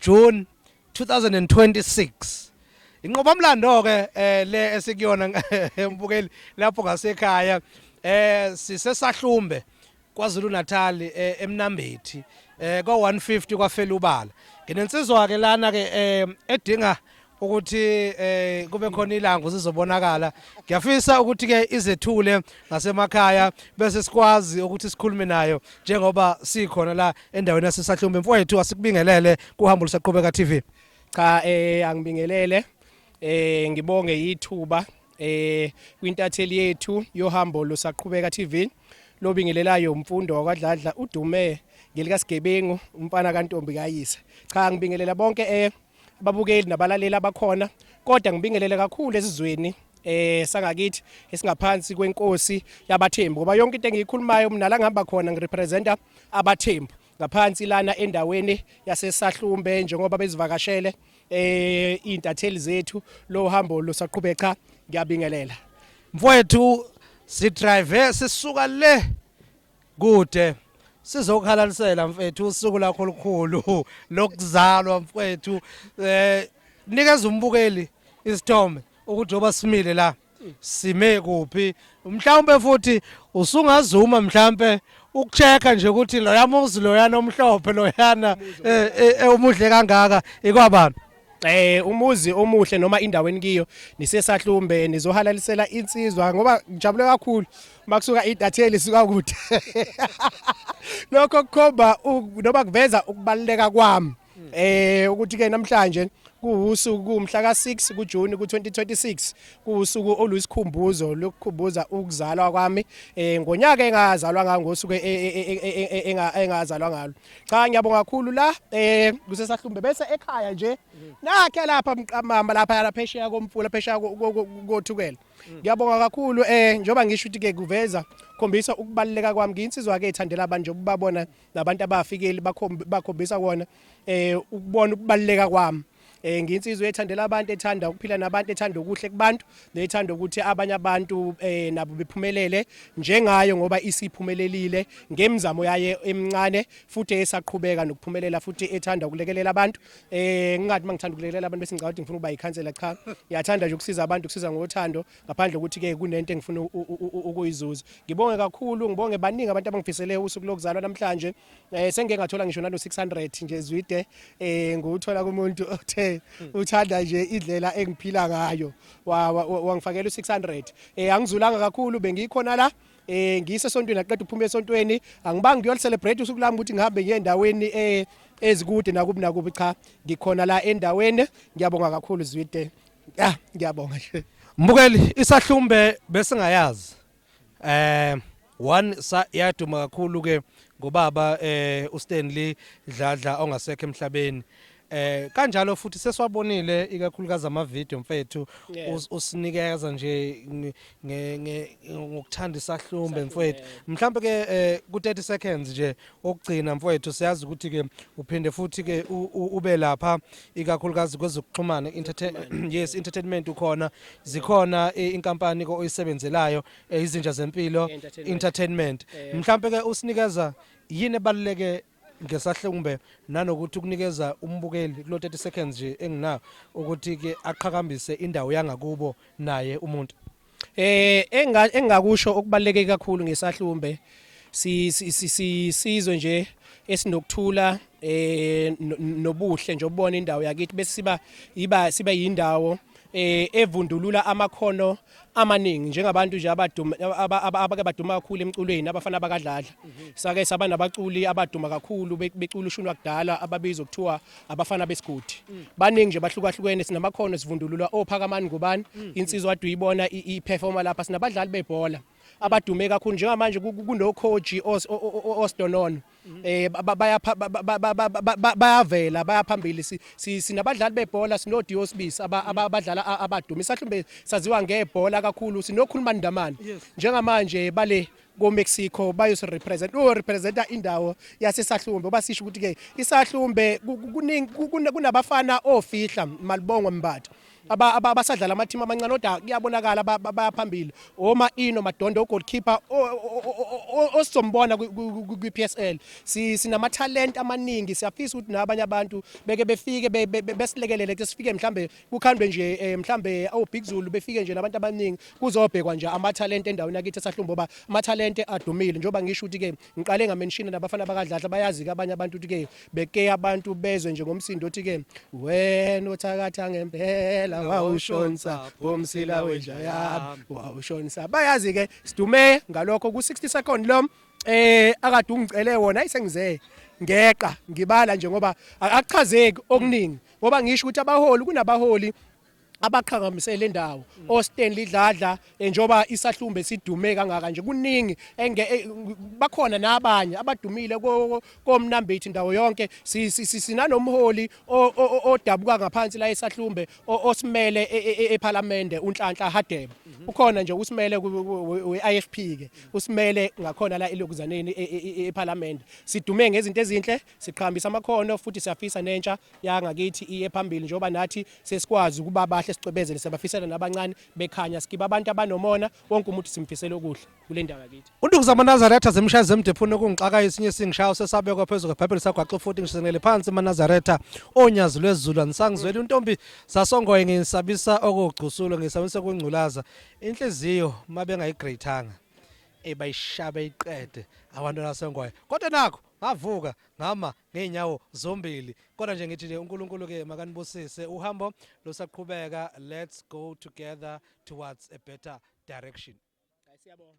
June 2026 inqobamlando ke eh, le esikuyona mbukeli lapho ngasekhaya eh sisesahlumbe kwaZulu Natal eh, emnambethi eh kwa 150 kwafelubala nginensizwa ke lana ke eh, edinga ukuthi eh kube khona ilanga uzizobonakala ngiyafisa ukuthi ke izethule ngasemakhaya bese sikwazi ukuthi sikhulume nayo njengoba sikhona la endaweni yasesahlumbe mfowethu asikubingelele kuhambo lusaqhubeka TV cha eh angibingelele eh ngibonge yithuba eh kwintatheli yethu yohambo lusaqhubeka TV lobingelelayo umfundo wakwadladla udume ngelikasigebengu umfana kantombi kayise cha ngibingelela bonke eh ababukeli nabalaleli abakhona kodwa ngibingelele kakhulu esizweni eh sangakithi esingaphansi kwenkosi yabathembu ngoba yonke into engiyikhulumayo mina la ngihamba khona ngirepresenta abathembu ngaphansi lana endaweni yasesahlumbe njengoba bezivakashele eh intatheli zethu lo hambo losaqhube cha ngiyabingelela mfowethu sidrive sisuka le kude sizokhalalisela mfethu usuku lakho olukhulu lokuzalwa mfethu eh nikeza umbukeli isithombe ukuthi oba simile la sime kuphi mhlawumbe futhi usungazuma mhlawumbe ukuchecka nje ukuthi loya muzi loyana omhlophe loyana ewumuhle eh, eh, kangaka ikwabani eh umuzi omuhle noma indawo enikiyo nisesahlumbe nizohalalisela insizwa ngoba ngijabule kakhulu makusuka idatheli suka kude lokho kukhomba noma kuveza ukubaluleka kwami eh ukuthi ke namhlanje kuwusuku kumhla ka6 kuJune ku2026 kuwusuku oluyisikhumbuzo lokukhumbuza ukuzalwa kwami eh ngonyaka engazalwa ngangosuku engazalwa ngalo cha ngiyabonga kakhulu la eh kusesahlumbe bese ekhaya nje nakhe lapha mqamama lapha lapha eshiya komfula phesha kothukela ngiyabonga kakhulu eh njoba ngisho ukuthi ke kuveza khombisa ukubaluleka kwami ngiyinsizwa ke ithandela abantu njengoba babona nabantu abafikeli bakhombisa kona eh ukubona ukubaluleka kwami eh nginsizwe ethandela abantu ethanda ukuphila nabantu ethanda okuhle kubantu nethanda ukuthi abanye abantu eh nabo bephumelele njengayo ngoba isiphumelelile ngemizamo yaye emncane futhi esaqhubeka nokuphumelela futhi ethanda ukulekelela abantu eh ngingathi mangithanda ukulekelela abantu bese ngicabanga ukuthi ngifuna ukuba yikhansela cha ngiyathanda nje ukusiza abantu ukusiza ngothando ngaphandle ukuthi ke kunento engifuna ukuyizuza ngibonge kakhulu ngibonge baningi abantu abangifisele usuku lokuzalwa namhlanje eh sengike ngathola ngisho nalo 600 nje zwide eh nguthola kumuntu othe hmm. uthanda nje indlela engiphila ngayo wangifakela u600 eh angizulanga kakhulu bengikhona la eh ngise sontweni aqeda ukuphuma esontweni angibangi ngiyol celebrate usuku lami ukuthi ngihambe ngiye endaweni eh ezikude nakubi nakubi cha ngikhona la endaweni ngiyabonga kakhulu zwide ah ngiyabonga nje mbukeli isahlumbe besingayazi um one yaduma kakhulu ke ngobaba eh uStanley Dladla ongasekho emhlabeni eh kanjalo futhi seswabonile ikakhulukazi ama video mfethu usinikeza nje ngokuthanda isahlumbe mfethu mhlawumbe ke eh, ku 30 seconds nje okugcina mfowethu siyazi ukuthi ke uphinde futhi ke ube lapha ikakhulukazi kwezokuxhumana yes entertainment ukhona zikhona eh, inkampani ko oyisebenzelayo eh, izinja zempilo entertainment eh. mhlambe ke usinikeza yini ebaluleke ngesahlumbe nanokuthi ukunikeza umbukeli kulo 30 seconds nje enginayo ukuthi ke aqhakambise indawo yangakubo naye umuntu Eh enga engakusho okubaleke kakhulu ngesahlumbe si sizwe nje esinokuthula eh nobuhle nje ubona indawo yakithi bese siba iba sibe yindawo eh evundulula amakhono amaningi njengabantu nje abaduma abake baduma kakhulu emculweni abafana bakadladla sake saba nabaculi abaduma kakhulu becula ushuni wakudala ababizwa kuthiwa abafana besigodi mm. baningi nje bahlukahlukene sinamakhono sivundululwa ophakamani ngubani mm. insizwa adu ibona iperforma lapha sinabadlali bebhola abadume kakhulu njengamanje kunokhoji osdonono eh bayavela bayaphambili sinabadlali bebhola sinodiyo sibisi abadlala abadume isahlumbe saziwa ngebhola kakhulu sinokhuluma ndamani njengamanje bale koMexico bayosirepresent uyorepresenta indawo yaseSahlumbe uba sisho ukuthi-ke iSahlumbe kunabafana ofihla malibongwe mbatha abasadlala amathimu amancane kodwa kuyabonakala bayaphambili oma ino madondo ugoalkeeper osizombona kwi-psl sinamathalente amaningi siyafisa ukuthi nabanye abantu beke befike besilekelele ke sifike mhlawumbe kukhandwe nje eh, mhlambe oBig Zulu befike nje nabantu abaningi kuzobhekwa nje amathalente endaweni yakithi esahlumbo ba amathalente adumile njengoba ngisho ukuthi ke ngiqale ngamenshini nabafana bakadladla bayazi ke abanye abantu ukuthi ke beke abantu bezwe nje ngomsindo othi ke wena othakatha ngempela wawushonsa bomsila wenja yami wawushonsa bayazi ke sidume ngalokho ku 60 second lo eh akade ungicele wona ayisengizeye ngeqa ngibala nje ngoba akuchazeki okuningi ngoba ngisho ukuthi abaholi kunabaholi abaqhakambise le ndawo oStanley Dladla eh, njoba isahlumbe sidume kangaka nje kuningi eh, bakhona nabanye abadumile komnambithi ndawo yonke sinanomholi odabuka ngaphansi la esahlumbe osimele e, eParliament e, e, uNhlanhla Hadebe mhm. ukhona nje usimele weIFP ke usimele ngakhona la elokuzaneni eParliament sidume ngezinto ezinhle Siqhambisa amakhono futhi siyafisa nentsha yangakithi iye phambili njengoba nathi sesikwazi ukuba bahle sicwebezele sebafisela nabancane bekhanya sikiba abantu abanomona wonke umuntu simfisela okuhle kule ndawo yakithi. UNduku zamaNazaretha zimshaya zemdephuni okungixaka esinye isingishayo sesabekwa phezu kweBhayibheli sagwaxa futhi ngishenele phansi maNazaretha onyazi lwezulu anisangizweli untombi zasongoye ngisabisa okugcusulo ngisabisa kungculaza inhliziyo mabengayigreyithanga ebayishabe iqede abantwana sengoye kodwa nakho Ngavuka ngama ngeenyawo zombili kodwa nje ngithi nje uNkulunkulu ke makanibusise uhambo lusaqhubeka let's go together towards a better direction. Siyabonga.